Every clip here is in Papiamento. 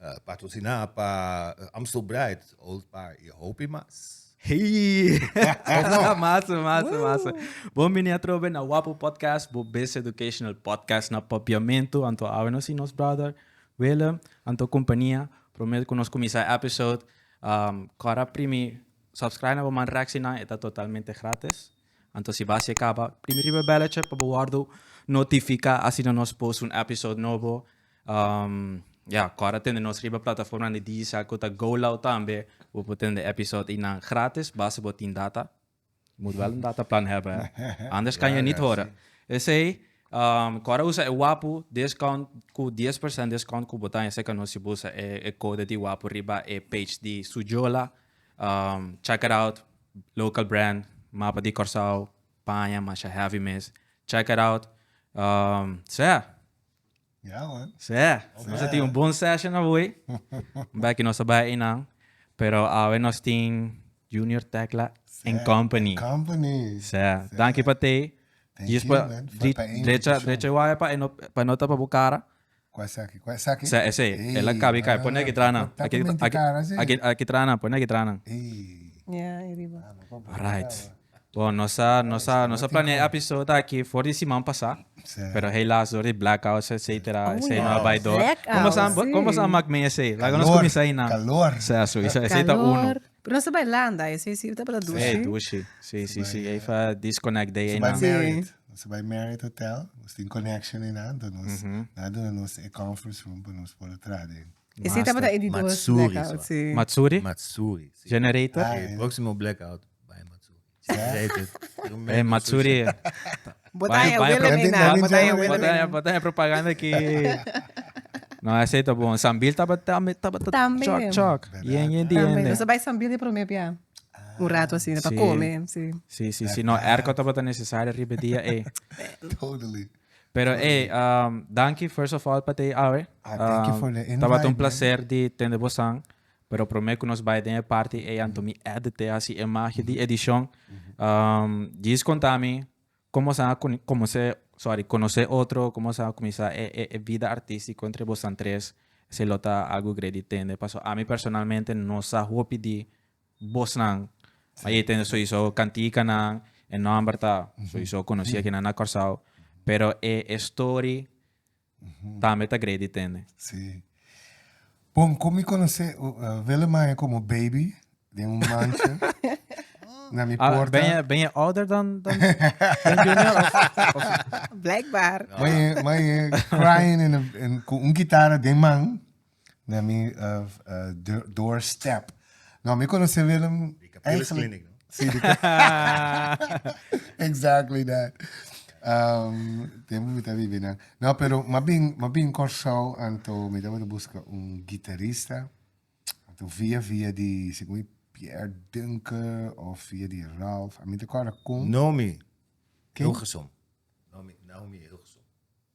Uh, patrociná pa uh, I'm So Bright, Old Par i hopi mas. Hey! massa, massa, massa. Bom bini a trobe na Wapo Podcast, bo best educational podcast na papiamento. Anto awe nos i nos brother Willem, anto kompania. Promet ku nos kumisa episode. Um, kora primi, subscribe na bo man reaksina, eta totalmente gratis. Anto si base caba primi riba e belletje pa bo wordo notifica asina nos post un episode nobo ya cora tende nos riba plataforma nan di digicel cu ta GoLoud tambe bo por tende episode einan gratis base bo tin data bo moet wel een data plan hebben he anders kan je niet horen esey cora usa e wapu discount cu dies percent discount cu bo ta haya cerca nos si bo usa e code di wapu riba e page di Sujola. Check it out local brand mapa di Kòrsou paña masha heavy mes check it out sè Ya man sè nos a tin un bon session awoy bèk i nos ta bai einan pero awe nos tin Junior Tecla and company and company sè danki pa tei djis pa drecha drecha waya pa e no tapa bo cara Cu esaki? Cu esaki? Sea esey. Ey, Ela cabi cabi. Pone aki traha nan. Aki aki aki aki aki traha nan. Pone aki traha nan. Ey. Ya, e riba. Alright. Bon, nos a nos a nos a planea e episode aki for di siman pasa. Sea. Pero helaas dor di blackouts etcetera Oh, esey no a ya. bai dor. Blackout, Como sa si. como sa mak mi esey? Laga nos Calor, cuminsa ahinan. calor. Sea, so esey esey ta uno. Calor. Pero nos ta bai landa e si si bo ta bata dushi. Hey dushi si si si ey fa disconnect dey ey nan. Marriot nos ta bai Marriot hotel nos tin connection ey nan enton nos nan a duna nos e conference room pa nos por tra den. E si ta bata e di dos blackout si. Matsuri Matsuri si generator. E proximo blackout bai Matsuri. Eh, Matsuri. Botaya Baie- Willem baie- Ina. Botaya Willem Botanya, Ina. botanya propaganda ki. No, esei ta bon. Sambil taba tambe, taba ta Tambe. chok, chok. Verdad. Yen, yen di Tambe. yen. Nos bai sambil di prome pia. Un rato así, pa Sí. come, sí. Si, si, si. No, erko taba ta necesario riba dia, eh. Totally. Pero, eh, um, danki, first of all, pa te awe. Ah, thank you for the invite, Taba ta un man. placer di tende bosan. Pero prome cu nos bay den e parti ey anto mi edit e haci e magia di edicion. Jees conta mi como asana conoce, sorry, conoce otro, como asana cuminsa e e vida artistico entre bosnan tres, si lo ta algo grei di tende. Paso ami personalmente no sa hopi di bosnan, ma ey tende soyiso canticanan, e nomber ta soyiso conoci aki nan na Corsao, pero e e story, tambe ta gredi tende. Sí. Bon, con mi conoce uh, Willem a haña como baby den un mancha na mi Ah, porta. ben, je, ben je ouder dan, dan, dan Junior? Of, of, Blijkbaar. Maar je, maar je crying in, een- in, con un guitarra den man. na mi door step no mi conoce Willem eigenlijk si di exactly that um, tempo mi ta vivi na no pero ma bin ma bin Corsou anto mi ta wete busca un guitarista anto via via di segun mi Pierre Dunker of via di Ralph a mi ta corda con Nomi Hilgersom Nomi Naomi Hilgersom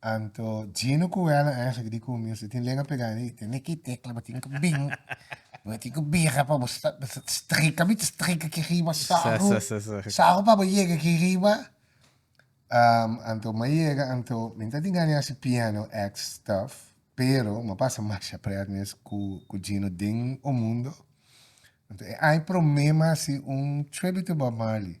Anto Gino cu Ella eigenlijk di comienzo e tin lenga pega en e. Ten e ki tecla, bo tin cu bin, bo tin cu bira pa bo sta, bo sta strica, mi ta strica aki riba, Sa, sagu, sa, sa, sa. sagu pa bo yega aki riba. Am, anto ma yega, anto mi ta tingani haci piano X stuff, pero ma pasa masha pret mes cu, cu Gino den o mundo. Anto e ai prome ma haci un tribute to Bob Marley.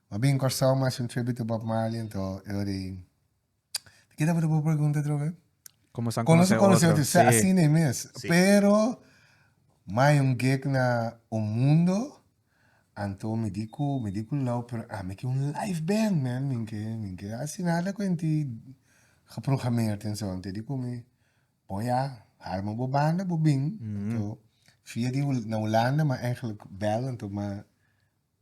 Ma bien Corsao mas un tribute to Bob Marley ento e ora ei ta keda bo ta bo pregunta otro vez Como sa conoce otro Como nos a conoce otro si asina ei mes pero mai un gek na un mundo anto mi di cu mi di cu low pero ami ki un live band man mi ke mi ke asina ta cuenti geprogrameerd en zo anto e di cu mi bon ya arma bo banda bo bing anto via di na Hulanda ma eindelijk bel anto ma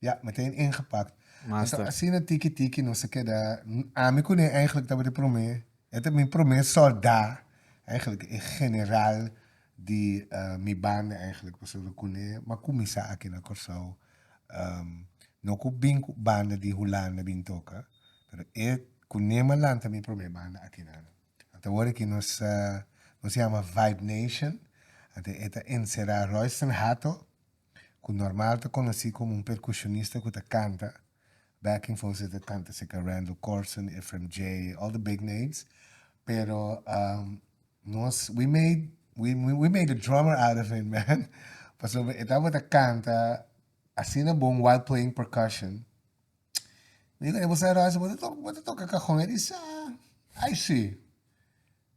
Ya, meteen ingepakt. Masta. Anto asina tiki tiki nos a keda. N- Ami kuné eigenlijk tabata promé, e ta mi promé soldá, eigenlijk e general di ah, mi banda eigenlijk, pasobra kuné bo a kuminsá aki na Kòrsou, am, no ku bin ku banda di Hulanda bin toka, pero e, kuné bo a lanta mi promé banda aki nan. Anto awor aki nos a, nos yama Vibe Nation, anto e ta enserá Royston Hato, ku normal ta konosí komo un perkushonista ku ta kanta, backing vocals e ta kanta serka Randall Corson, Efrem Jay, all the big names, pero nos we made we we made a drummer out of him man, pasobra e tabata kanta asina bon while playing percussion, mi diku e bo sa Rosy bo ta toka bo ta toka kajon, e di sa, ai si,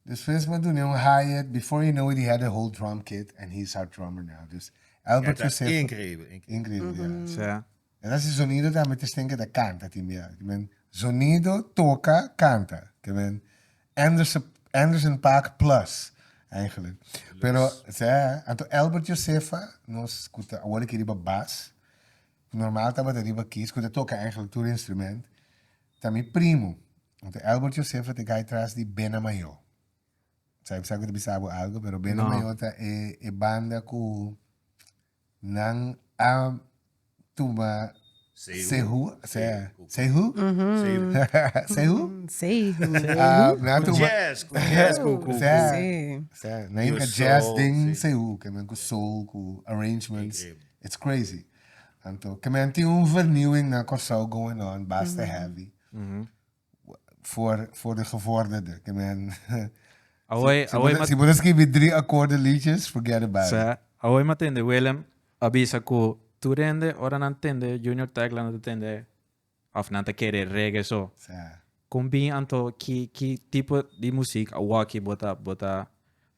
Despues m'a dun'é un hi-hat, before you know it he had a whole drum kit and he's our drummer now. Dus Albert José ta increíbel, increíbel. Increíbel, ya. En así zonido tambe ta stende ta canta tin bia. Ke men zonido, toca, canta. Ke men Anderson Anderson Paak plus eigenlijk. Pero sa, anto Albert Josefa nos ku ta awor aki riba bas, normal tabata riba kis, ku ta toca eigenlijk tur instrument, Ta mi primu. Huntu Elbert Josefa ta gai tras di Bena Mayo. Sa sa ku ta bisa bo algu, pero Bena no. Mayo ta e, e banda ku nan a tuma Sehu. Sehu. Sehu. Sehu. Sehu. Nan a tuma. Jazz. Ku jazz. Ku, ku, sa, sa. Nan ka jazz den Sehu, ku nan ku soul, ku arrangements. It's crazy. Anto ke men tin un vernieuwing na Kòrsou going on basta heavy. Voor, voor de gevorderde. Ke men... Awei, si, awei, si, si bodo skibi drie akkoorden liedjes, forget about it. Sa, awei ma tende Willem a bisa ku tur hende ora nan tende Junior Tech la nan ta tende of nan ta kere reggae so. Sa. Kon bin anto ki ki tipo di musik awaki bo ta bo ta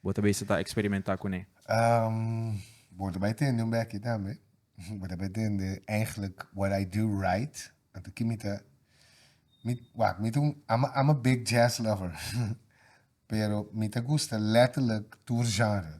bo ta bisa ta eksperimenta kuné? Um, bo ta bai tende un bèkkie tambe. Bo ta bai tende eigenlijk what I do right. Anto ki mi ta mi wak mi ta un I'm a I'm a big jazz lover pero mi ta gusta letterlijk tur genre.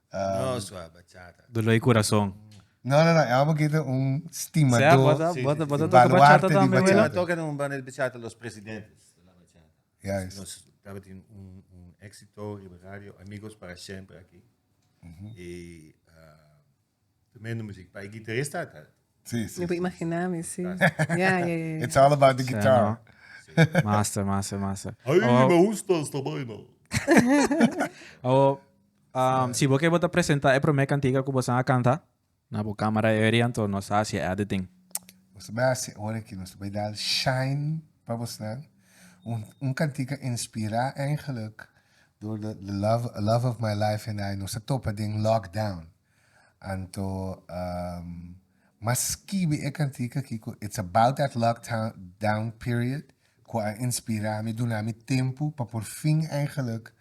No sua bachata. Dolor e corazon. No no no e amo keda un stimador di baluarte di bachata. Tabata toca un banda di bachata Los Presidentes de la Bachata. Juist. Nos tabatin un exito riba radio Amigos para Siempre aki. Tremendo muzik pa e gitarista ta. Sí, sí. Mi por imaginá mi, sí. Ja, ja, ja. It's all about the guitar. Massa, massa, massa. Ai, oh, me gusta esta vaina. oh, um, si bo ke bo ta presenta e prome kantika ku bo san a kanta, na bo kamera e ori anto nos hasi editing. Nos bai hasi ora ki nos bai dal shine pa bosnan. Un, un kantika inspirá eigenlijk door the, the love, love of my life and I nos a topa den lockdown. Anto, mas skibi e kantika aki ku It's About That Lockdown Period ku a inspira mi, duna mi tempu pa por fin eigenlik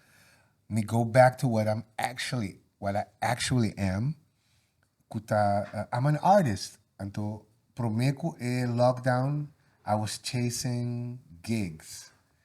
mi go back to what I'm actually, what I actually am, ku ta, I'm an artist. Anto, promé ku e lockdown I was chasing gigs,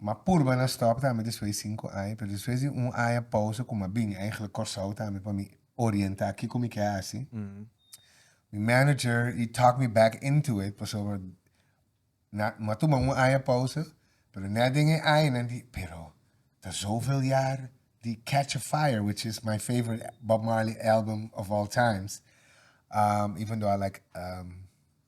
Ma purba na stop tambe despues di sinku aña, pero despues di un aña pausa ku mi a bini eigenlijk Kòrsou tambe pa mi orientá kiko mi ke hasi, mi manager he talked me back into it pasobra na mi a tuma un aña pausa, pero nèt den e aña nan di pero ta zoveul jaar di Catch a Fire which is my favorite Bob Marley album of all times even though I like.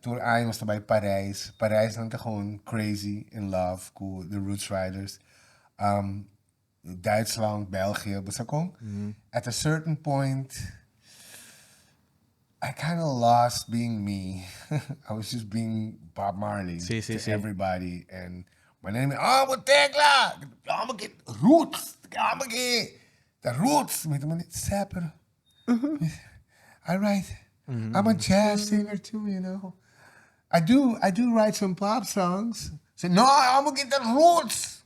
Tur aña nos ta bai Parijs. Parijs nan ta gewoon crazy in love cu The Roots Riders. Um, Duitsland, België, bo sa con? At a certain point, I kind of lost being me. I was just being Bob Marley Sí, sí, to sí. everybody. And my name, oh, bo tecla! Oh, me get roots! Oh, me get the roots! Me te mane, "Sè, pero I write. Mm-hmm. I'm a jazz singer too, you know. I do I do write some pop songs. Say, no, I'm a guitar roots.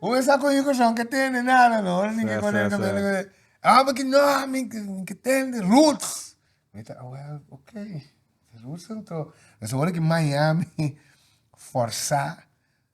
Hoe sa con you son que tiene nada, no? Ahora ni que con el cabello. I'm a no, mi que tiene roots. Me dice, oh, well, okay. Roots entonces. Eso ahora que Miami forza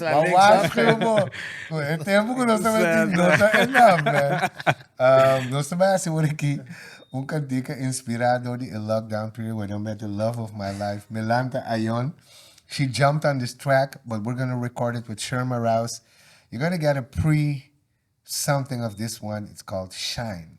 Bo a waarschuwen bo ku e tempu ku nos ta mesti nota e namber. Um, nos ta bai hasi wor aki un kantika inspirá dor di e lockdown period where nos mete Love of My Life, Melanta Ayon. She jumped on this track, but we're gonna record it with Sherma Rouse. You're gonna get a pre something of this one. It's called Shine.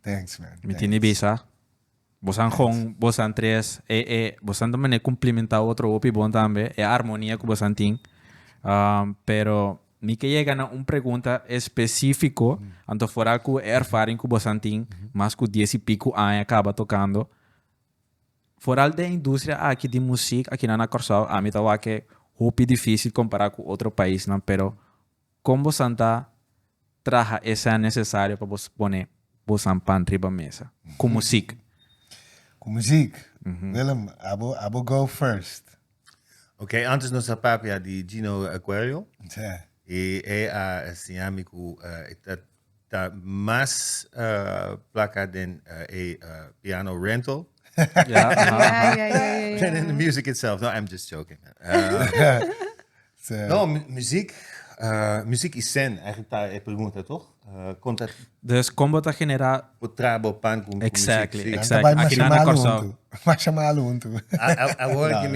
Thanks man. Mi tini bisa. Bosan gon, bosan tres, e e bosan ta mané cumplimentá otro hopi bon tambe, e armonia cu bosan tin. Um, pero mi ke yega na un pregunta específico, anto fora cu e ervaring cu bosan tin, mas cu dies y pico aña caba tocando. Foral den industria aki di muziek akinan na Corsao, ami ta wak e hopi dificil compara cu otro paisnan, pero Kon bosan ta traha e sea nesesario pa boso pone bosan pan riba mesa? Ku musik. Ku musik. Willem, abo abo go first. Ok, antes nos a papia di Gino Aquario. Sea. I e a siña mi ku e ta Ta mas plaka den e piano rental dan in the music itself. No, I'm just joking. no, muziek, muziek i sen, eigenlijk ta e pregunta, toch? kon ta... Dus kombo ta genera... Bo tra bo pan ku muziek. Exactly, exactly. Aki na na Kòrsou. Masha malo untu. Awor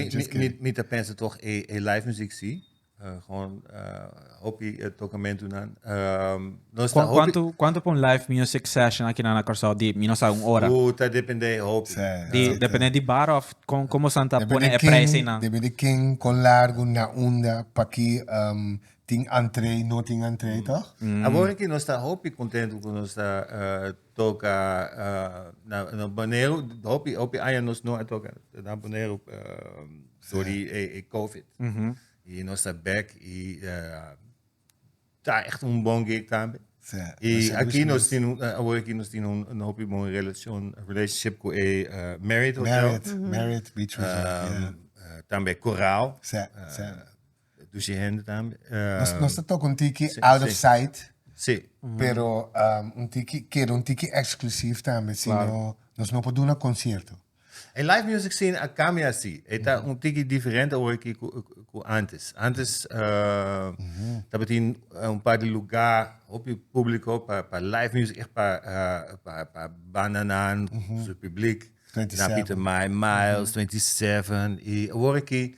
mi ta pensa toch e live muziek si. Gewoon hopi tocamentunan. Nos ta hopi... Cuanto, cuanto pa un live music session aki na Curaçao di? Mi no sabe un hora. Uh, ta depende hopi. Sí, di, sí, depende sí. di bar of con, como san ta pone e prijs na. Depende di ken, con largo, na unda, paki um, tin entree, no tin entree, mm. toch? Mm. Awor aki nos ta hopi contento cu nos ta uh, toca na Bonero hopi hopi aña nos no a toca na Bonero dori e covid y nos a bek y ta echte un bon gig tambe y aki nos tin awor aki nos tin un hopi bon relacion relationship cu e Marriot hotel Marriot Marriot Beach Resort tambe Coral Dushi hende tambe. Nos, nos ta toca un tiki sí, out sí. of sight. Sí. Pero um, un tiki, keda un tiki exclusief tambe, sino claro. nos no por duna concierto. E live music scene a cambia así. E ta un tiki diferente hoy que cu, cu antes. Antes uh, tabatin un par de lugar, hopi público pa, pa live music, echt pa, uh, pa, pa bananan, su publiek. Na Pieter Mai, Miles, 27. Y hoor ik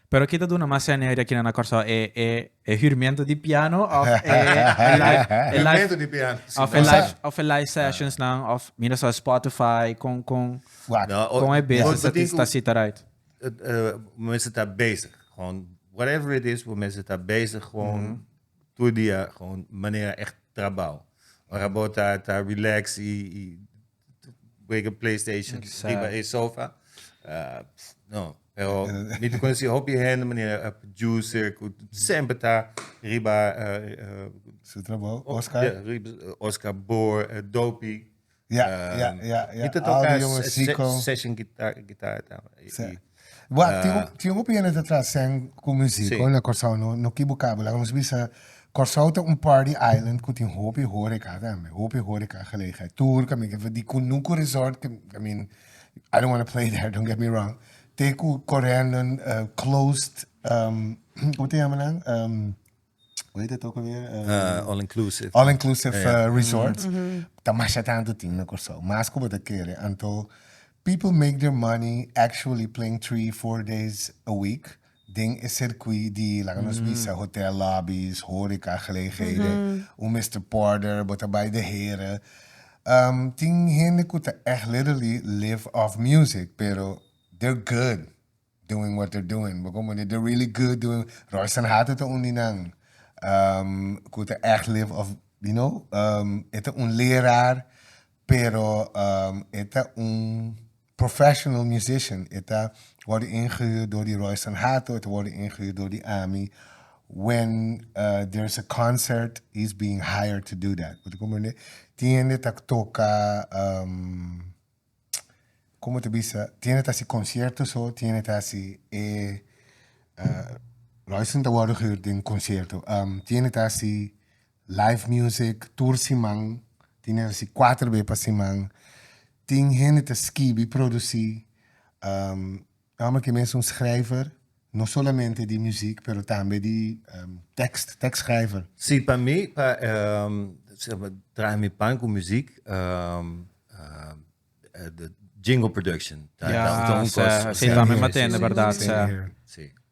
Pero ki ta duna mas energia aki na na Corsao e e e hurmento di piano of e e live e live Hurmento di piano si of e no live of e live sessions nan of mira so Spotify con con Fuat. No, o- con e bes bo- bo sa tin tin ku- sa sita right eh, eh, mense ta bezig. Gewoon, whatever it is, we mense ta bezig gewoon todo dia, gewoon manera echt trabao. Ora bo ta, ta relax y, y Wega playstation riba e sofa. Uh, no, pero mi te conocí hopi gente, meneer uh, producer, cu sempre ta riba... Uh, uh, Su trabajo, Oscar. Yeah, riba, uh, Oscar Boer, uh, Dopey. Ja, ja, ja, ja. Mi te toca session guitar, guitar. Se, Bua, tin un, tin un hopi hende ta traha sèn ku musiko Sí. na Kòrsou, no, no kibukabo. Laga nos bisa, Kòrsou ta un party island ku tin hopi horeca tambe, hopi horeca gelegenheid. Tur, ke mi ke di Kunuku Resort, ke, I mean, I don't wanna play there, don't get me wrong, te ku korèndo, eh, closed, ehm, komo ta yama nan? Ehm, hoe heet het ook alweer? Uh, all inclusive. All inclusive yeah. uh, eh, resort. Mm -hmm. Ta masha tanto ting na Curaçao. Mas como te kere, anto people make their money actually playing three, four days a week. Den e circuit di, laga nos visa, hotel lobbies, horeca, gelegenheden, mm -hmm. un Mr. Porter, bota bij de heren. Um, ting hende kuta echt literally live off music, pero they're good. doing what they're doing bo komo di they're really good doing Royston Hato ta un di nan um ku ta echt live of you know um e ta un leraar pero um e ta un professional musician e ta wòrdu ingehuurd dor di Royston Hato e ta wòrdu ingehuurd dor di ami when uh there is a concert he is being hired to do that bo ta komprende tin hende ta toka um. Como ta bisa tiene ta haci concierto so tiene ta haci e Royston ta wordo gehoor den concierto tiene ta haci live music tur siman tiene ta haci cuater be pa siman tin hende ta skibi produci Tambe ki mes un schrijver no solamente di muziek pero tambe di tekst, tekstschrijver. Si pa mi pa traha mi pan ku muziek jingle production ta un kos. Si tambe matende berdad.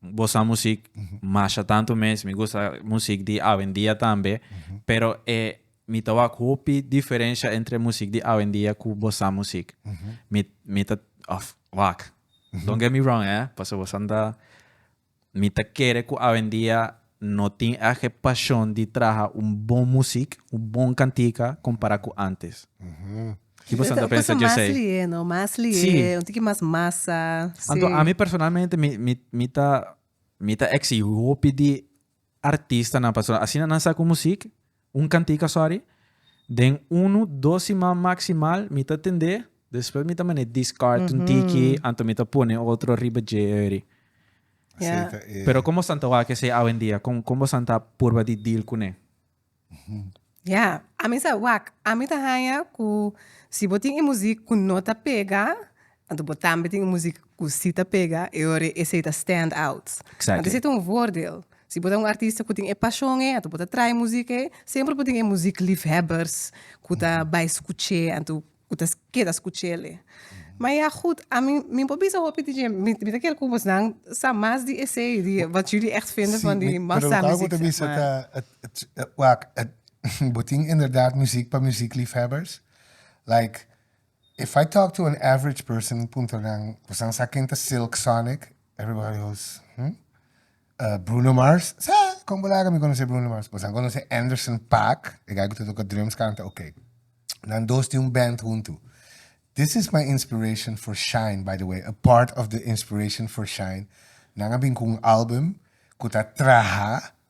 bo sa musik masha tantu mes, mi gusta musik di awendia tambe, pero e mi ta wak hopi diferensha entre musik di awendia ku bo sa musik. Mi mi ta òf wak, don't get me wrong eh, pasobra bo sa mi ta kere ku awendia No tin ak e pashon di traha un bon musik, un bon kantika kompará ku ántes. Ki boso ta pensa djesei? Sí. Anto ami personalmente mi mi mi ta mi ta eksigí hopi di artistanan pasobra asina nan sa ku musik. Un cantica sorry. Den unu dos siman maximal mi ta tende, despues mi ta mane discard un tiki anto mi ta pone otro riba dje eri. Asei ta e. Pero con bosan ta wak esey awendia? Con con bosan ta purba di deal cune? Ya, ami sa wak. Ami ta haya cu si bo tin e muzik cu no ta pega, Anto bo tambe tin music cu si ta pega e ora esey ta stand out. Exactly. Anto esey ta un voordeel. Si bo ta un artista cu tin e pasion ey, anto bo ta traai music ey, semper por tin e music liefhebbers cu ta bay scuch'e, anto cu ta keda scuch'ele. Ma ya goed, ami, mi por bisa hopi DJ, mi ta ker cu bosnan sa mas di esey, di wat jullie echt vinden van die massa music, zeg maar. Bo tin inderdaad music pa music liefhebbers, like. If I talk to an average person mi puntra nan, Bosa'n sa ken ta Silk Sonic? Everybody goes, Hm? Bruno Mars? Sa! Kon bo laga mi konosé Bruno Mars? Bosa'n konosé Anderson Paak, e guy ku ta toka drums kanta? Ok. Nan dos tin un band huntu. This is my inspiration for Shine, by the way, a part of the inspiration for Shine, nan a bin ku un album ku ta traha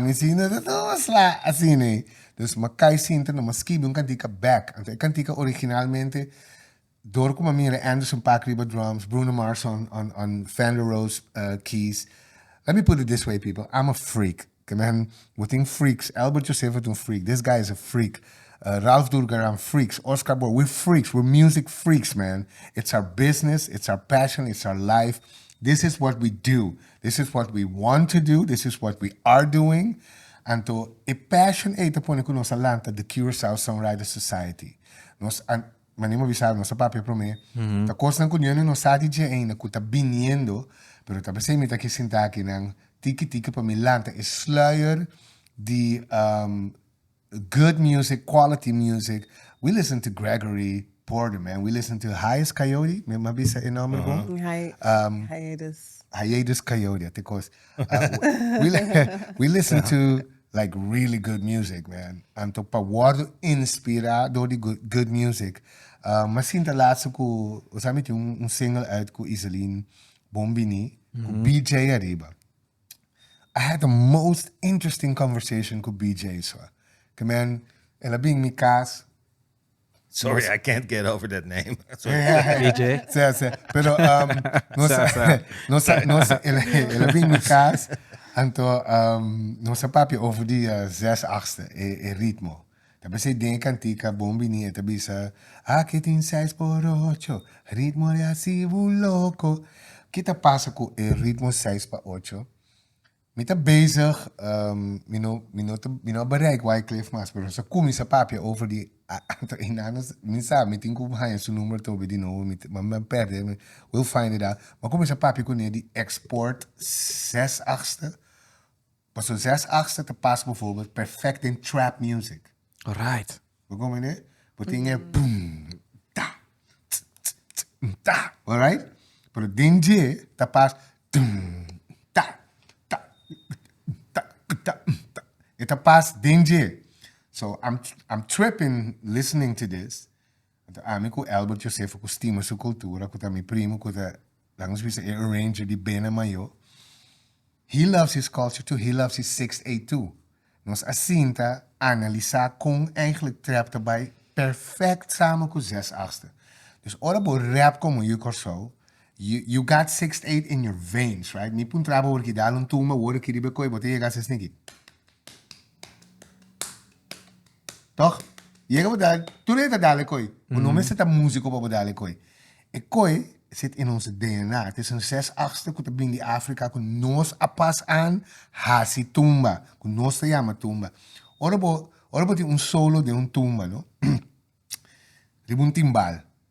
Mi sinta ta dos la asin ei. Dus mi a kai sinta no mi a skibi un kantika bek. Anto e kantika originalmente dor ku mi a mira Anderson Paak riba drums, Bruno Mars on on on Fender Rhodes keys. Let me put it this way people, I'm a freak. Ke men bo tin freaks, Elbert Josephus un freak, this guy is a freak, Ralph Durgaran freaks, Oscar Bor, we freaks, we music freaks man. It's our business, it's our passion, it's our life, this is what we do. This is what we want to do, this is what we are doing, anto e passion ei ta pone ku nos a lanta The Curaçao Songwriters Society. Nos a, mane bo a bisa, nos a papia promé, ta kosnan ku niun di nos sa di dje ainda ku ta biniendo, pero ta p'esei mi ta ki sinta akinan tiki tiki pa mi lanta e sluier di Good music, quality music. We listen to Gregory Porter man, we listen to Hias Coyote, mi a bisa e nomber bon? Hiatus. Hiatus Coyote, a te cos. We listen to like really good music man, anto pa wordo inspira door di good music. Mi a sinta laatste cu, mi tin un single uit cu Iselin Bombini cu BJ ariba. I had the most interesting conversation cu BJ so. The man, el a bin mi cas. Sorry, I can't get over that name. BJ? Sí, sí. Pero um, no Sa, sa, sa. no sa, no sa, el, el a bin mi cas. Anto, um, no sa papi over die uh, zes achtste, e, e ritmo. Ta p'esei den e kantika Bon Bini e ta bisa, Aki tin seis por ocho, ritmo de asivo loko. Ki ta pasa ku e ritmo seis pa ocho? Mi ta bezig, mi no mi no ta mi no a bereik Wyclef mas, pero nos a kuminsá papia over di Anto Enano. Mi sa, mi tin ku haña su number tobe di nobo, mi mi a pèrdè, mi will find it out. Mi a kuminsá papia kuné di Export zes achtste Paso zes axta ta pasa bovorbel perfect den trap music. Alright. Bo comprende? Bo tin e boom, ta, tss, tss, tss, mm, ta, alright? Pero den dje ta pasa tum, ta, ta, mm, ta, mm, ta, mm, ta. E ta pasa den dje. So, I'm, I'm tripping listening to this. Anto ami ku Elbert Josefa ku stima su kultura ku ta mi primu ku ta laga nos bisa e arranger di Bena Mayo he loves his culture too, he loves his sixth eighth too nos a sinta analisá kon eigentlik trap ta bai perfect samen ku zes achtste dus ora bo rap komo yu Kòrsou you you got sixth eighth in your veins right mi puntra bo wor ki dal un tumba wor aki riba e koi bo ta yega asesniki. Tòg? Yega bo dal, tur dje ta dal e koi. Bo no mester ta músiko pa bo dal e koi. E koi sit in ons dna. Ta esun ses akster ku ta bini di Afrika ku nos a pas an hasi tumba, ku nos ta yama tumba. Ora bo, ora bo tin un solo den un tumba, no? Riba un timbal.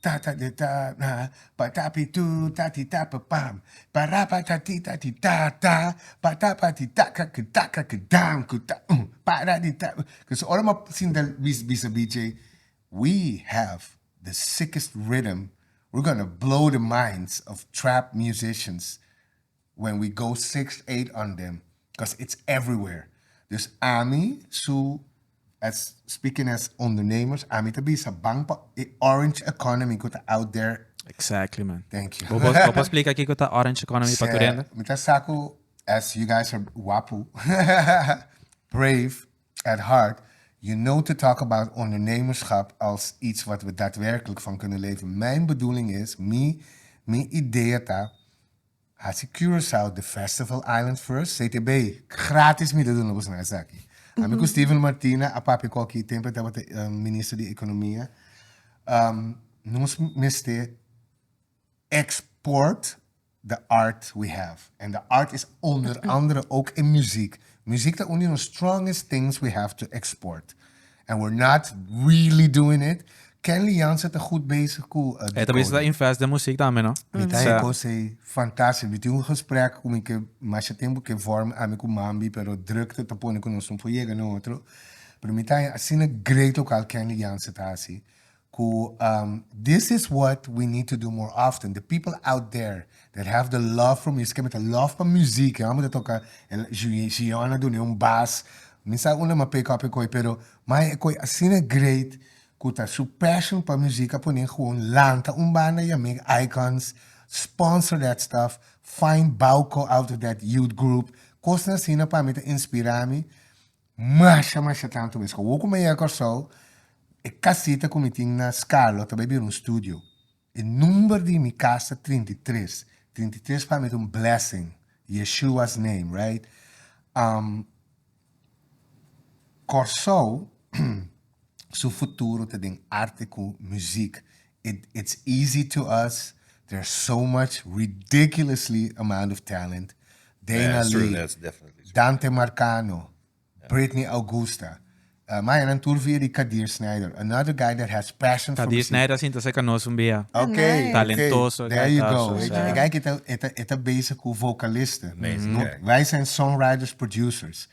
Tata de ta na pa tapi tu tati tapi pam para pa ta ti ta ti ta ta pa ta pa ti ta ka ki ta ka ki dam ku ta um para di ta kos ora m'a sinta bis bisa a bichi ei we have the sickest rhythm we're gonna blow the minds of trap musicians. when we go sixth eight on them cos it's everywhere dus ami su as speaking as ondernemers ami ta bisa ban pa e orange economy cu ta out there Exactly man. thank you Bo bo bo por splica kico ta orange economy pa Turenda? Mi ta sa cu as you guys are wapu, brave at heart, you know to talk about ondernemerschap als iets wat we daadwerkelijk van kunnen leven. Mijn bedoeling is, mi, mi idea ta, Hasi Curaçao The Festival Island First CTB gratis mi ta duna boso nan esaki. Ami ku Steven Martina a papia ku aki tempu e tabata Minister di Economia. Nos mester export the art we have and the art is onder andere ook e muziek. Muziek ta un di nos strongest things we have to export. And we're not really doing it. Kenley Jansen ta goed bezig ku uh, Hij bezig te invest in muziek también, no? Mi ta so. een say fantastisch. Mi tin un gesprek ku mi ke masha tempo ke vorm ami ku Mambi, pero drukte ta pone ku nos no por yega na otro. Pero mi ta asina great lokal Kenley Jansen ta hasi. Cu this is what we need to do more often, the people out there that have the love for music, que mi ta love pa muziek, e homber ta toca el Gion a dun'e un bas, mi sa un lama pay copy coy pero mai e coy asina great cu ta su passion pa muziek a pon'e gewoon lanta un banda y a make icons, sponsor that stuff, find Bauco out of that youth group, cosnan asina pa mi ta inspira mi. Masha masha tanto mes. Awo cu mi a yega Corsou e casita cu mi tin na Scalo ta bay bira un studio. E number di mi cas ta trinta i tres. Trinta i tres pa mi ta un blessing. Yeshua's name right. Corsou. su futuro ta den arte ku muzik. It it's easy to us. There so much ridiculously amount of talent. Dana yeah, Lee, that's definitely true. Dante Marcano, yeah. Britney Augusta. Uh, Maya, nan tur via di Kadir Snyder. Another guy that has passion Kadir for music. Snyder sinta se kanos un bia. Okay. Nice. Talentoso. Okay. There you go. Weet je, guy kita eta eta bezig ku vocalisten. Amazing. Mm -hmm. Wij zijn songwriters, producers.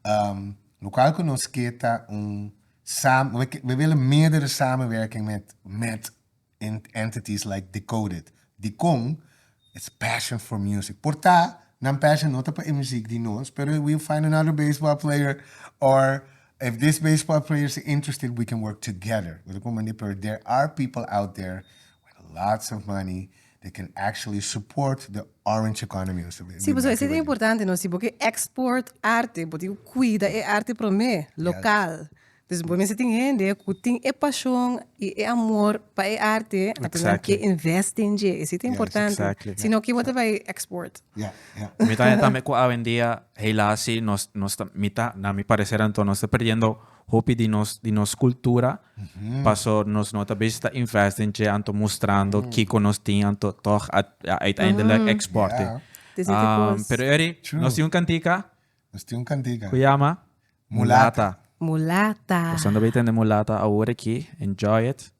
Um, Lokal ku nos ke ta un sam we ke we wila meerdere samenwerking met met en entities like Decoded. Dicon is passion for music. Por ta nan passion no ta pa e muziek di nos pero we'll find another baseball player or if this baseball player ta interested we can work together. Lo ta pone mandi pero there are people out there with lots of money they can actually support the orange economy. Sí, pues eso es importante, no? Si bo ke export arte, bo tin cuida e arte prome, local. Yes. Dus bo mester tin hende cu tin e pasion y e amor pa e arte, entonces nan ke invest den dje. Eso ta importante. Yes, exactly. Si no, ken bo ta bay export? Yeah, yeah. Mi ta haya tambe cu awendia, helaas sí, nos, nos ta, mi ta, na mi parecer anto, nos ta perdiendo. Hopi di nos di nos cultura paso nos no ta bezig ta invest den dje anto mustrando kico nos tin anto toch a uiteindelijk export e. Pero Eury nos tin un cantica cu yama Mulata. Pasando bay tende Mulata awor aki enjoy it.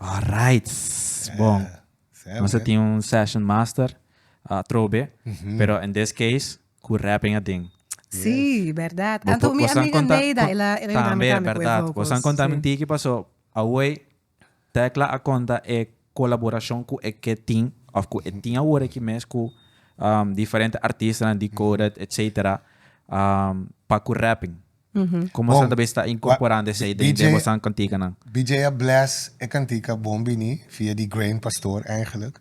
Alright, bon. Eh, Ons tin un session master, uh, trobe, mhm. pero in this case, ku rapping ading. Sí, yes. verdad. Tanto mi amiga Neida, ela, ela también, verdad. Vos han contado sí. mentira que pasó. Away, Tecla a conta e colaboración cu e que tin, of cu e tin ahora que mes cu um, diferente artistas, Decoded, mm -hmm. etc. Um, pa cu rapping. Como esnan ta bisa ta incorporando esey den den bosan canticanan? BJ a bless e cantica Bon Bini via di Grain Pastor eigenlijk.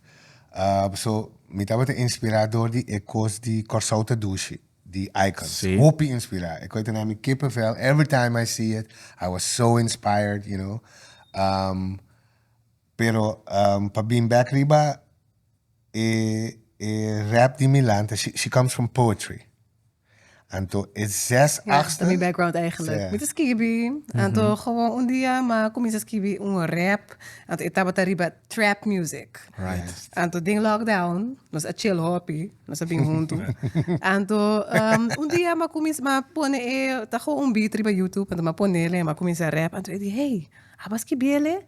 So, mi tabata inspira door di e cos di Corsou ta dushi di Icons. Hopi inspira. E coi ta na mi kippenvel every time I see it. I was so inspired, you know. Pero pa bin bek riba e rap di Milan ta she she comes from poetry anto e zes Ja, achter. ta mi background eigenlijk. Sa. Mi ta skibi, anto gewoon un dia ma kuminsa skibi un rap, anto e tabata riba trap music. Right. Anto den lockdown nos a chill hopi, nos a bin huntu. Anto un dia ma kuminsa ma pone e ta gewoon un beat riba YouTube, anto ma ponele ma kuminsa rap, anto e di hey, abo a skibiele?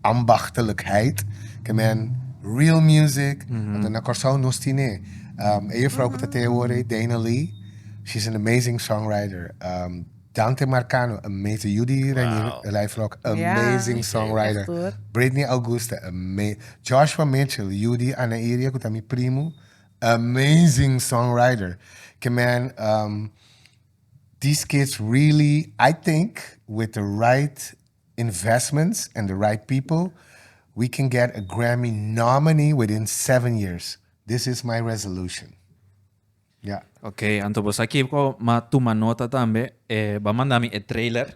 Ambachtelijkheid ke men real music anto na Kòrsou nos tin e e juffrou ku ta te awor ei Dana Lee she is an amazing songwriter Dante Marcano amazing Judy Reiflok amazing songwriter Britney Augusta ama Joshua Mitchell Judy Ana Iria ku ta mi primo amazing songwriter ke men these kids really I think with the right investments and the right people we can get a Grammy nominee within seven years this is my resolution ya. Ok anto bo sa kico ma tuma nota tambe e ba manda mi e trailer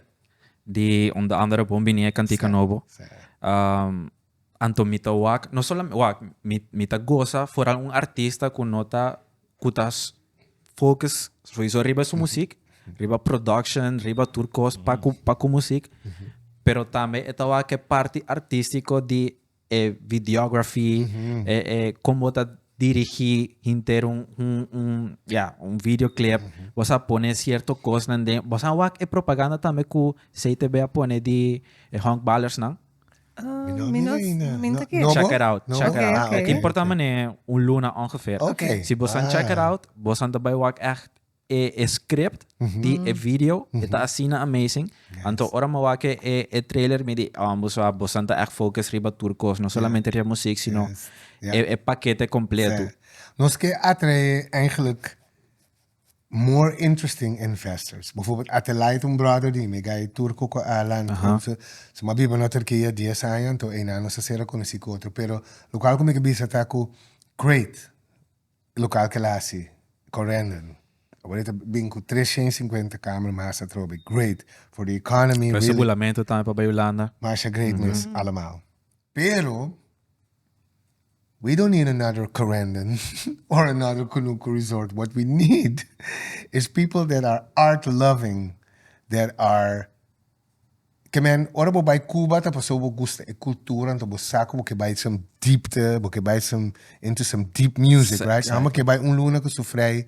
di unda andere bon bini e cantica nobo Anto mi ta wak, no solamente wak, mi mi ta gosa foral un artista ku no ta ku ta focus souiso riba su musik, riba production, riba tur kos pa ku pa ku musik, pero tambe e ta wak e parti artístiko di e videography, e e kon bo ta dirigí henter un un un ya un video clip, bo sa pone sierto kosnan den, bo sa wak e propaganda tambe ku CTB a pone di e honkballersnan. Mi no hina. Mi no ta kere. No bo? Check it out, check it out. Oké, oké. E tin por ta man'é un luna ongeveer. Oké. Si bosan Ah. check it out, bosan ta bai wak ègt e e script di e video, e ta asina amazing. Yes. Anto ora mi a wak e e e trailer mi di, oh bo sa bosan ta ègt focus riba tur kos, no solamente riba muziek, sino Yes. e e pakete kompletu. Nos ke atrae eigenlijk more interesting investors. Bijvoorbeeld Atelait, un brother di mi, guy Turco cu Alan, su a biba na Turquia dies aña, anto eynan nos a ser a conoci cu otro. Pero local cu mi ke bisa ta cu Crate, e local kel a haci correndon. Awor e ta bin cu tres shen cincuenta kamer mas atrobe. Great for the economy, really. Preso bulamentu tambe pa bay Hulanda. Masha great mes, allemaal. Pero. We don't need another Corendon or another Kunuku resort. What we need is people that are art loving, that are ke men ora bo bai Cuba ta pasobra bo gusta e cultura anto bo sa ku bo ke bai some diepte, bo ke bai some into some deep music, right? Amo ke bai un luna ku su frei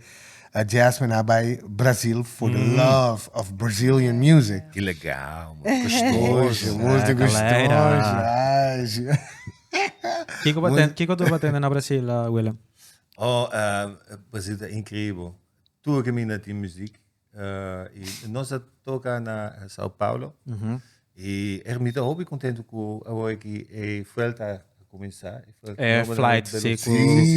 A jazz men a bai Brazil for the love of Brazilian music. Ki legal, man. Gustoso. Mos di gustoso. Kiko tur pa tende na Brazil, Willem? Oh, Brazil ta increibel. Tur ki mi na tin muziek. I nos a toca na Sao Paulo. I er mi ta hopi contento cu awor ki e fuelta a cuminsa. E flight si cu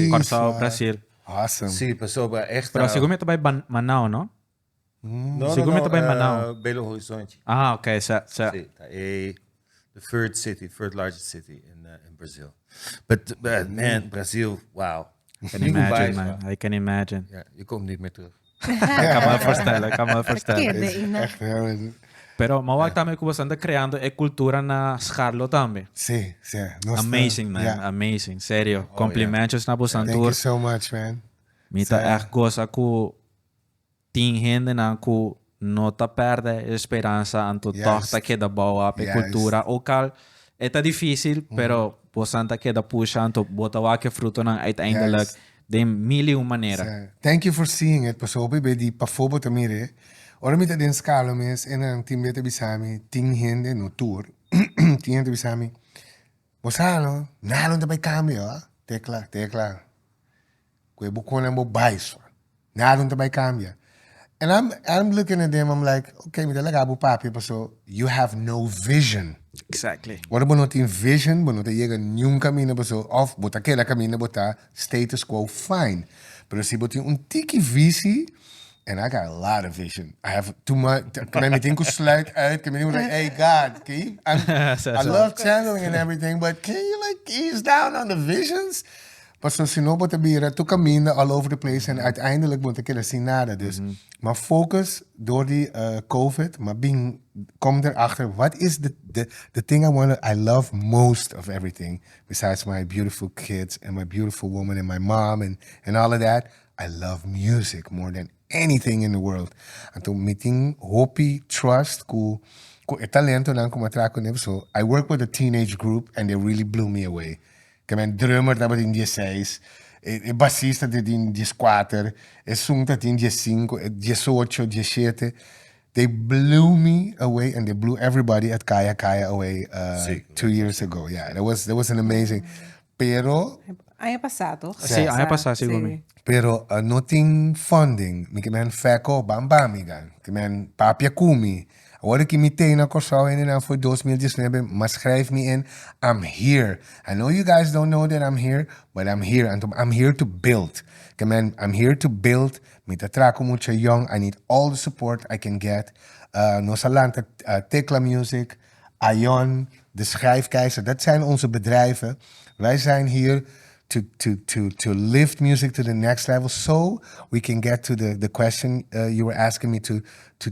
Corsow, Brazil. Awesome. Sí, pasobra esta. Pero sico mi ta bay ban Manao, no? No, Sico mi ta bay Manao. No, no, no, Belo Horizonte. Ah, ok, sa, sa. Sí, ta e the third city, third largest city in, uh, in Brazil. But, uh, man, Brazil, wow. I can imagine, man. I can imagine. Yeah, you come di me terug. Ai ka mal forstel, ai ka mal forstel. Pa kende i na. Ech realmente. Pero mo wak tambe ku boso anda kreando e kultura na Sgarlo tambe. Sí, sí. Nos ta. Amazing man, Yeah. amazing. Serio. Oh, Komplimentos na boso Thank tur. you so much, man. Mi ta Sa- ègt goza ku tin hendenan ku no ta pèrdè e speransa anto tòg Juist. ta keda bou ap e Juist. kultura. Ook al e ta difísil, pero bosonan ta keda pusha anto bo ta wak e frutonan uiteindelijk. Juist. den mil i un manera. Thank you for seeing it paso hopi be di pafobo ta mire ora mi ta den scalo mes e nan tin be ta bisami tin hende no tur tin hende ta bisami bo sa no nada no ta bai cambio ha tecla tecla cu e boconnan bo bai so nada no ta bai cambia And I'm I'm looking at them, I'm like, okay, mi ta laga bu papia paso you have no vision. Exactly. Ora bo no tin vision, bo no ta llega niun camino paso of bo ta queda camino bo ta status quo fine. Pero si bo tin un tiki visi, and I got a lot of vision. I have too much. Kena mi tin ku sluit uit, kena mi tin ku like, hey God, can you, I'm, I love channeling and everything, but can you like ease down on the visions? Pasobra si no bo ta bira tur kaminda all over the place en uiteindelik bo ta keda sin nada. Dus mi a focus door di covid mi a bin kom der achter wat is the thing I wanna I love most of everything besides my beautiful kids and my beautiful woman and my mom and all of that I love music more than anything in the world anto mi tin hopi trust ku ku e talentonan ku mi a traha kuné so I work with a teenage group and they really blew me away Tambe drummer tabatin dieseis, e basista tabatin dieskuater, e sun tabatin diesinko, e diesocho, dieshete, they blew me away and they blew everybody at Kaya Kaya away two years ago, yeah, that was that was an amazing, pero, Aña pasá toch? Sí, aña pasá segun mi. pero no tin funding, mi ke men fèk-o, bam bam mi gan, ke men papia ku mi, Awor ki mi ta na Kòrsou hende nan for dos mil dieznuebe m'a skrèf mi en I'm here I know you guys don't know that I'm here but I'm here anto I'm here to build ke men I'm here to build mi ta traha ku mucha yòn I need all the support I can get nos a lanta Tekla Music Ayon de Schijf Keizer dat zijn onze bedrijven wij zijn hier to to to to lift music to the next level so we can get to the the question you were asking me to to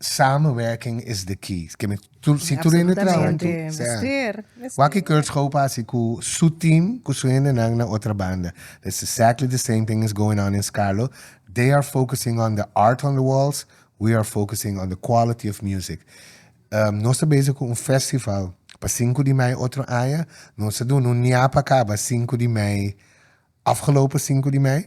Samenwerking is the key. Si tur hende traha huntu. Wak Kurtz Goop a hasi ku su team, ku su hendenan na otra banda. That's exactly the same thing is going on in Scarlo. They are focusing on the art on the walls, we are focusing on the quality of music. Nos ta bezig ku un festival pa sinku di mei otro aña. Nos a duna un niape a kaba sinku di mei, afgelopen sinku di mei.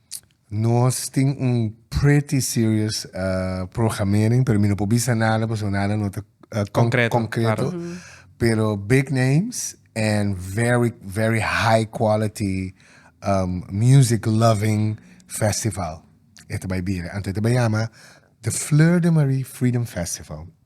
Nos tin un pretty serious programering pero mi no por bisa nada paso nada no ta concreto, claro. pero big names and very very high quality um, music loving festival e ta bay bira anto e ta bay yama The Fleur de Marie Freedom Festival.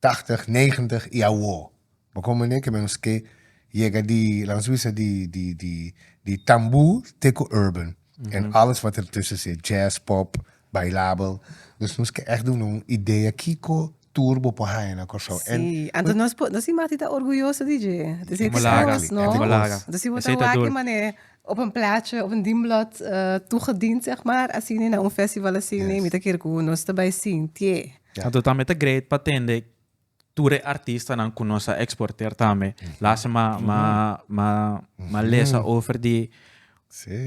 tachtig, negentig y awo. Bo con mane ke menos ke yega di lans bisa di di di di tambu te ku urban en alles wat er tussen sit, jazz, pop, bailabel. Dus nos ke echt duna un idea kiko tour bo por haña na Kòrsou. Sí, anto nos por nos inmati ta orguyoso di dje. Anto si e te Malaga, kos, e no? te kos. Malaga. Anto si bo ta Esei ta wak dul. e mane op un plaatje, op un dienblot eh, toegediend zeg maar asini na un festival asini, Yes. mi ta kere ku nos ta bai sintié. Anto tambe ta great pa tende tur e artistanan ku nos a eksporter tambe. Last ma ma ma ma lesa over di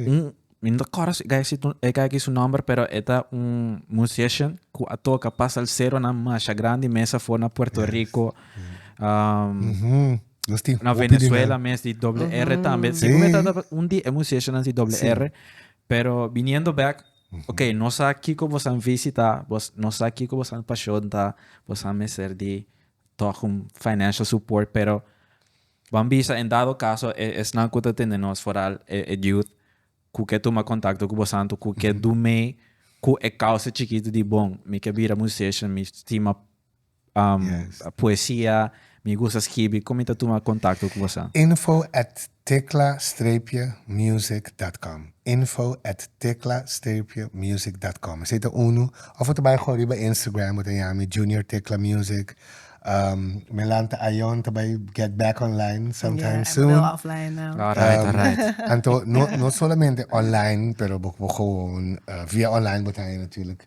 un mi no ta kòrda si gai si e gai ki su nòmber pero e ta un musician ku a toka pa salseronan masha grandi mes afo na Puerto Rico Nos tin na hopi di nan. Venezuela mes di doble R tambe. Si ku mi ta un di e musiciannan di doble R pero biniendo back Ok, nos sa kiko bo san visita, bos nos sa kiko bo san pashon ta, bo san mester di tog un financial support pero ban bisa en dado caso e esnan cu ta tende nos foral e e youth cu ke tuma contacto cu bosan to cu ke do mee cu e causa chikito di bon mi ke bira musician mi stima poesia mi gusta skibi con mi ta tuma contacto cu bosa? Info at tecla streepje music dot com info at tecla streepje music dot com esey ta uno of bo ta bay gewoon riba Instagram bo ta yami Junior Tecla Music Melanta Ayon ta bay get back online sometime soon alright alright anto no no solamente online pero bo bo gewoon via online bo ta hay natuurlijk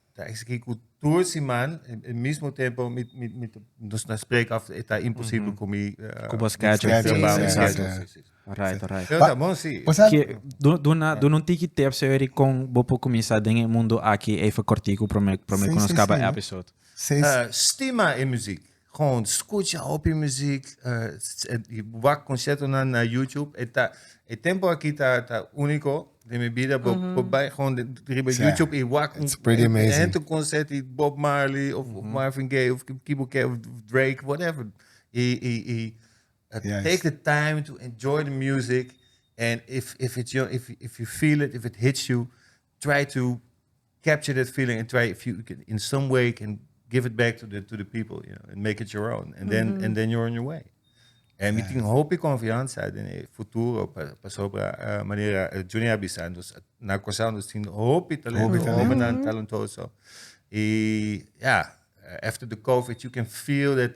Ta exigí ku tur siman, e mismo tempu mi mi mi nos na spreka of e ta imposibel ku mi Ku bo schedule schedule, traba mi sí, schedule. exacto. Sí, sí, sí. Alright, alright. Pero ta bon, sí. Pues al- Ke, du- duna, duna un tiki tep so eri kon bo por kuminsá den e mundu aki even kortiku promé promé Sí, ku nos sí, kaba sí. episode. Seis- Ah, stima e muziek. Con scucha hopi muziek, y wak conciertonan na YouTube. E ta, e tempo aki ta, ta unico den mi bida, bo, bo bai gewoon de- riba Sa. YouTube y wak un, It's pretty amazing. hente un concert y Bob Marley of, of Marvin Gaye of ki, ki bo ke, of Drake, whatever. Y, y, y uh, Yes. take the time to enjoy the music and if, if it's your, if, if you feel it, if it hits you, try to capture that feeling and try if you can in some way can give it back to the to the people, you know, and make it your own. And then mm -hmm. and then you're on your way. En mi tin hopi confianza in el futuro para pa sobra uh, manera uh, Junior Bisandos na cosa nos tin hopi talento, hopi talento, mm -hmm. talentoso. E yeah, after the COVID you can feel that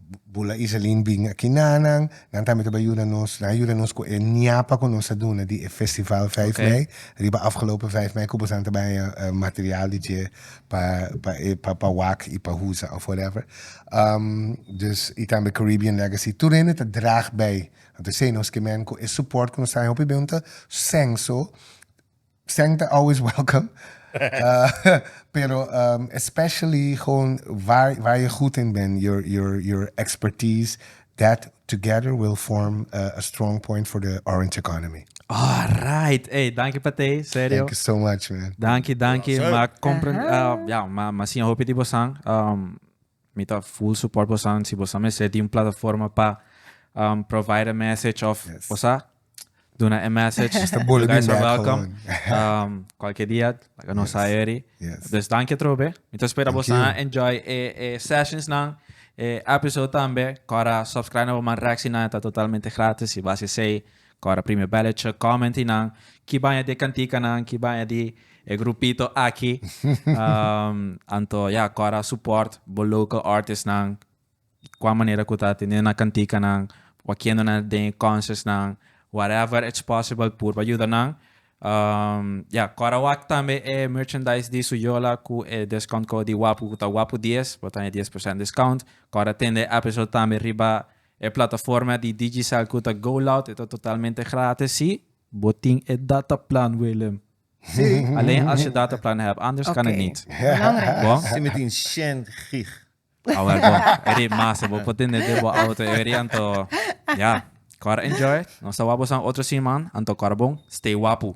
Bula Iselin bin aki na nan, nan tambe ta bai yuda nos, nan a yuda nos ku e ñapa ku nos a duna di e festival vijf Ok. mei, riba afgelopen vijf mei ku bosan ta bai haya material di dje pa pa e pa pa wak i pa huza of whatever. Ehm dus i tambe Caribbean Legacy tur hende ta draag bei, anto esei nos ke men ku e support ku nos traha hopi ben un ta senso Seng ta always welcome. Pero especially gewoon waar waar je goed in bent, your your your expertise, that together will form a, a strong point for the orange economy. Alright, hey, dankie pa te, serio. Thank you so much, man. Dankie, dankie. Awesome. Ma comprend, Aha. uh, ja, ma ma sin hopi tipo sang. Um, Mi ta full support bosan si bosan mester di un plataforma pa provide a message of cosa duna e message you guys are welcome cualkier dia laga nos sa eri pues danki atrobe mi ta spera bosan a enjoy e sessions nan e episode tambe kora subscribe na bo man reacciona ta totalmente gratis y base esey Kora prime belletje comment i nan ki baña di e kantikanan ki baña di e grupito aki anto ya kora support bo local artist nan kua manera ku ta teniendo nan kantikanan kua kiendo nan den e concerts nan whatever it's possible pur bo yuda nan ya kora wak tambe e merchandise di su yola ku e discount code di wapu ku ta wapu dies bo ta haña dies por sènt discount kora tende episode tambe riba E plataforma di Digicel cu ta GoLoud e ta totalmente gratis, si? Bo tin e dataplan, Willem? Si. Alleen als je dataplan hebt, anders kan het niet. Belangrijk. Bo? Si mi tin shen gig. A wel bo, e riep masa. Bo por tende den bo auto e ori anto ya. Cora enjoy. Nos ta wak boso otro siman. Anto cora bon. Stay wapu.